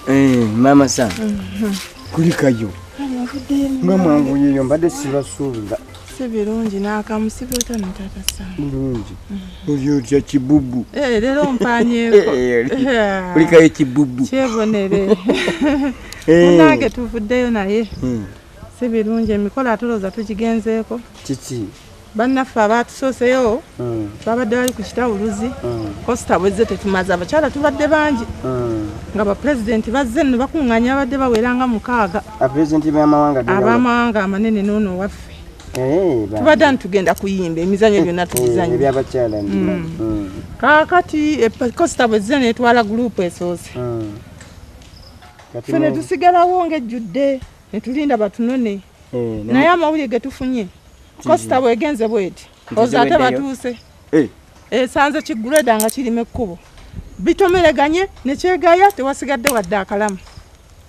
Eh, mama sana mm -hmm. kulikayo nga mwanguyeyo mbadde sibasuubira si birungi n'akamu si byota ne taata Sam. Birungi olya otya kibubu? Eh, leero mpaanyeeko olikayo kibubu kyebonere eh. munange tuvuddeyo naye hmm. si birungi emikolo atulooza tugigenzeeko kiki bannaffe abaatusooseyo hmm. babadde bali ku kitawuluzi hmm. kosita bwezze tetumaze abakyala tubadde bangi nga bapulezidenti bazze nno bakuŋŋanya abadde bawera nga mukaaga abamawanga amanene noono waffe eh, tubadde ani tugenda kuyimba emizanyo eh, gyonna tugizanyo eh, mm. mm. kakati kosita bwezze netwala gurupu esoose mm. fe netusigalawo ngaejjudde netulinda batunone naye amawulire getufunye kosita bwegenze bweti oza ate batuuse eh. esanze eh, kigureda nga kirima ekkubo bitomereganye nekyegaya tewasigadde wadde akalamu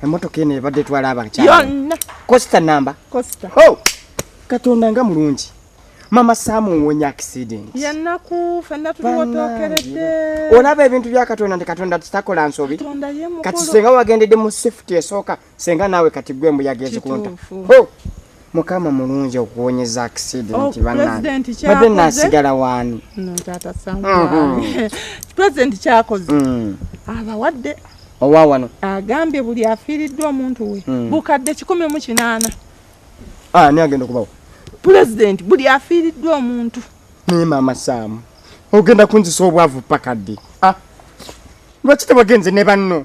emotoka eno ebadde etwala abakyayonna costa namba costa oh! katonda nga mulungi mama samu wonya accident yanaku fenna tuwotokeredde olaba ebintu bya katonda nti katonda titakola nsobi kati senga wagendedde mu safety esooka senga naawe kati gwe embuyaga ezikunta mukama mulungi okuwonyeza accident oh, banabadde nasigala waani president kyakoze mm-hmm. mm. abawadde owa wano agambye buli afiiriddwa omuntu we mm. bukadde kikumi mu kinaana ah, ni agenda okubawo president buli afiiriddwa omuntu naye maama saamu ogenda kunzisa obwavu pakadde ah, lwaki tebagenze ne banno